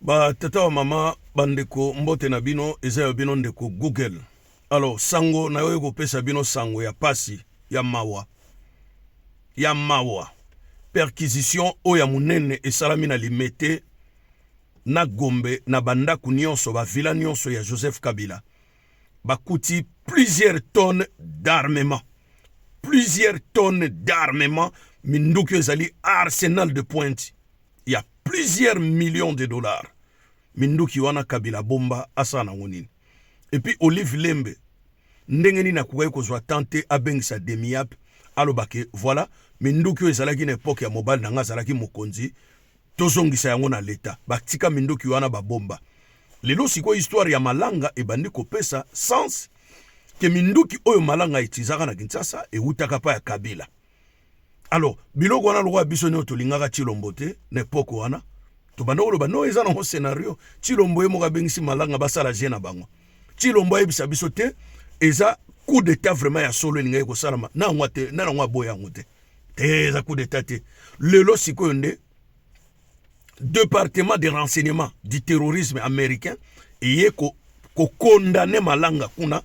Ba tata wa mama bandeko mbote na bino eza ya bino ndeko Google. Alors sango na yo kopesa bino sango ya pasi ya mawa ya mawa perquisition oyo ya monene esalami na Limete na Gombe na bandako nyonso ba villa nyonso ya Joseph Kabila bakuti plusieurs tonnes d'armement plusieurs tonnes d'armement minduki ezali arsenal de pointe ya plusieurs millions de dollars minduki wana kabila bomba asala nango nini epuis olive lembe ndenge nini akokaki kozwa temps te abengisa demiap aloba ke voilà minduki oyo ezalaki na epoke ya mobali na ngai azalaki mokonzi Tozongisa yango na leta batika minduki wana ba bomba lelo sikoyo histoire ya malanga ebandi kopesa sens ke minduki oyo malanga etizaka na Kinshasa ewutaka pa ya Kabila alors biloko wana lokola biso nio tolingaka Chilombo te na epoque wana tobanda koloba no eza nango scenario Chilombo ye moko abengisi malanga basala je na bango Chilombo ayebisa biso te eza coup d'etat vraiment ya solo elingaki kosalama na yango aboya yango te te eza coup d'état te lelo sikoyo nde département de renseignement du terrorisme américain eye kokondane ko malanga kuna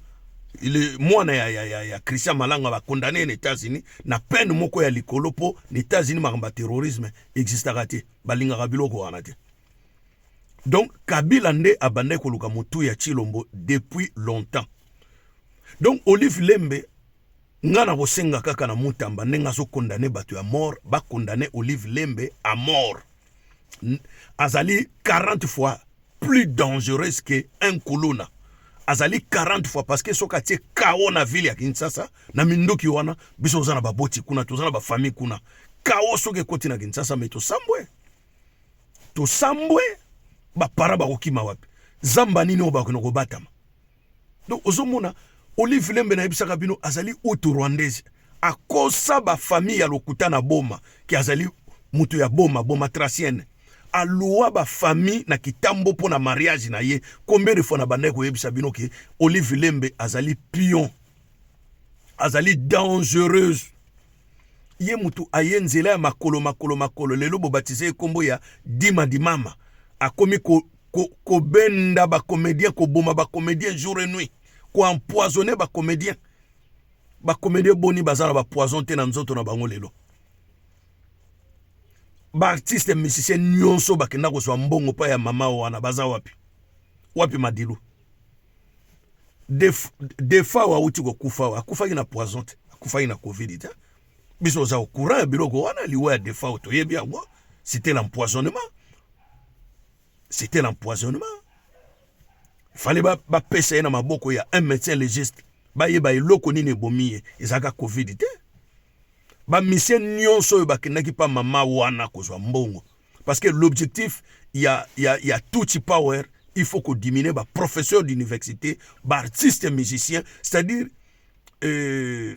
le mwana ya, ya, ya, ya christian malanga bakondane ye na états-unis na peine moko ya likolo mpo na états-unis makambo ya terrorisme existaka te balingaka biloko wana te donc kabila nde abandaki koluka motu ya chilombo depuis longtemps donc olive lembe Nga na ko senga kaka na Mutamba ndenge azo condamne batu ya mort ba condamne Olive Lembe a mort. Azali 40 fois plus dangereuse que un kuluna. Azali 40 fois parce que soki atie chaos na ville ya Kinshasa na minduki wana biso toza na baboti kuna toza na ba famille kuna. Chaos soki ekoti na Kinshasa mais tosambwe. Tosambwe ba para bakokima wapi? Zamba nini oyo bakona kobatama? Donc ozomona Olive Lembe na yebisaka bino azali utu rwandaise akosa ba famille ya lokuta na Boma ki azali mutu ya Boma Boma tracienne alua ba famille na kitambo mpo na mariage na ye combien de fois na bandaki koyebisa bino ke Olive Lembe azali pion azali dangereuse ye mutu aye nzela ya makolo makolo makolo lelo bobatize ye kombo ya dima dimama akomi ko kobenda ba comedien koboma ba comedien jour et nuit ko empoisonne ba comedien ba comedien boni baza na ba poison te na nzoto na bango lelo baartiste musicien nyonso bakenda kozwa mbongo mpa ya mama wana baza wapi wapi madilu defa oyo auti kokufa oyo akufaki na poison te akufaki na covid te biso oza au courant ya biloko wana liwa ya defao toyebi yango c'était l'empoisonnement c'était l'empoisonnement fallait bapesa ye na maboko ya un médecin légiste bayeba eloko nini ebomi ye ezalaka covid te bamisie nyonso oyo bakendaki mpa mama wana kozwa mbongo parce que l'objectif ya, ya, ya tutsi power il faut kodimine baprofesseur d'université baartiste musicien c'est-à-dire euh,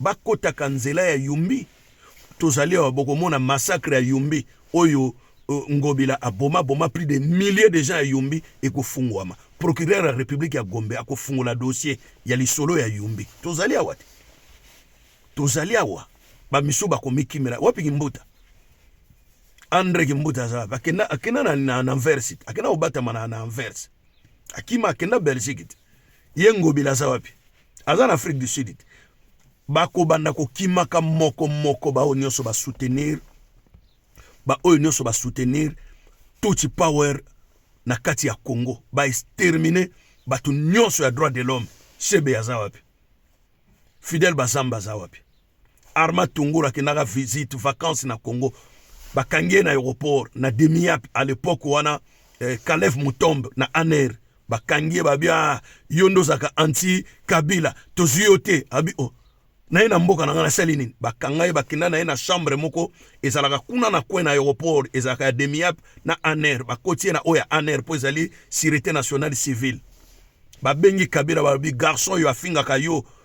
bakotaka nzela ya Yumbi. Tozali awa, bokomona massacre ya Yumbi oyo euh, Ngobila aboma boma plus de milliers de gens ya Yumbi ekofungwama. Procureur ya Republique ya Gombe akofungola dossier ya lisolo ya Yumbi. Tozali awa te, tozali awa. Bamisu bakomikimela wapi Kimbuta? Andre Kimbuta aza wapi? Akenda, akenda na, na, na Anvers, akenda kobatama na, na Anvers, akima akenda Belgique te. Ye Ngobila aza wapi? aza na afrique du sud te bakobanda kokimaka moko moko baoyo nyonso basoutenir baoyo nyonso basoutenir tutsi power na kati ya congo baextermine bato nyonso ya droit de l'homme sebe aza wapi fidèle bazamba aza wapi Arma Tungura akendaka visite vacances na Congo bakangi ye na aéroport na demiap à l'époque wana eh, Kalev Mutombe na Aner bakangi ye babia ah, yo nde ozalaka anti Kabila tozwi yo te abi oh. na ye na mboka na ngai nasali nini bakanga ye bakenda na ye na chambre moko ezalaka kuna na coin na aéroport ezalaka ya demiap na Aner bakoti ye na oyo ya Aner mpo ezali sûreté nationale civile babengi Kabila balobi garçon yo afingaka yo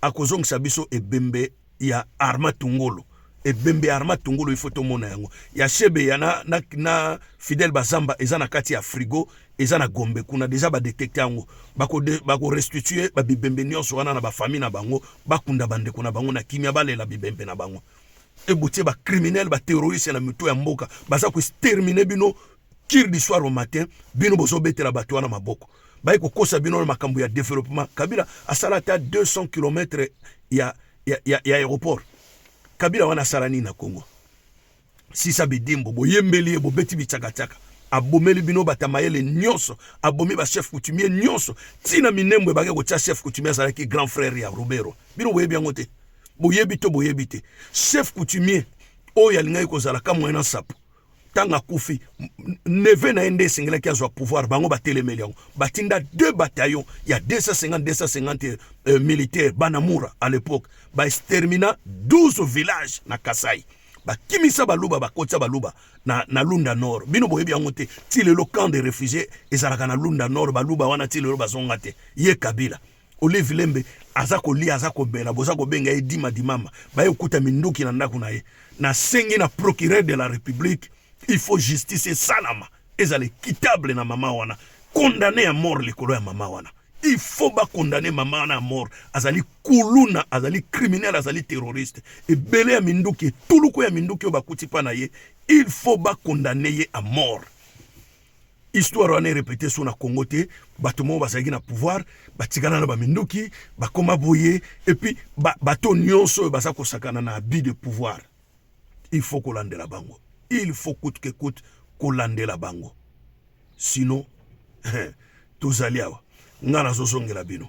akozongisa biso ebembe ya arma tungolo ebembe ya arma tungolo ifo tomona yango ya shebe ya na, na, na fidele bazamba eza na kati ya frigo eza na gombe kuna deja badetekte yango bakorestitue bako babibembe nyonso wana na bafamille na bango bakunda bandeko na bango na kimia balela bibembe na bango ebotie bacriminele baterroriste na mito ya mboka baza koextermine bino kir du soir au matin bino bozobetela bato wana maboko baye kokosa bino na makambo ya developement kabila asala ata 200 km ya, ya, ya, ya aéroport kabila wana asala nini na congo sisa bidimbo boyembeli ye bobeti bitsakatsaka abomeli bino bata mayele nyonso abomi bachef coutumier nyonso ntina minembwe bake kotya chef coutumier azalaki grand frère ya robero bino boyebi yango te boyebi to boyebi te chef coutumier oyo alingaki kozala kamwena nsapo ntango akufi neve na ye nde esengelaki azwa pouvoir bango batelemeli yango batinda deux bataillon ya 250 250 euh, militaire banamura à l'époque baextermina 12 village na kasai bakimisa baluba bakotisa baluba na, na lunda nord bino boyebi yango te ti lelo camp de réfugié ezalaka na lunda nord baluba wana ti lelo bazonga te ye kabila Olive Lembe aza kolia aza kobela boza kobenga ye dima dimama baye okuta minduki na ndako na ye nasengi na procureur de la république il faut justice esalama ezala équitable na mama wana condamné ya mort likolo ya mama wana il faut bakondane mama wana ya mort azali kuluna azali criminel azali terroriste ebele ya minduki etuluku ya minduki oyo bakuti mpa na ye il faut bakondane ye a mort histoire wana erepete so na congo te bato moko bazalaki na pouvoir batikala na baminduki bakoma boye epuis bato nyonso oyo baza kosakana na abus de pouvoir il faut kolandela bango il faut coute que coute kolandela bango sinon tozali awa ngai nazozongela bino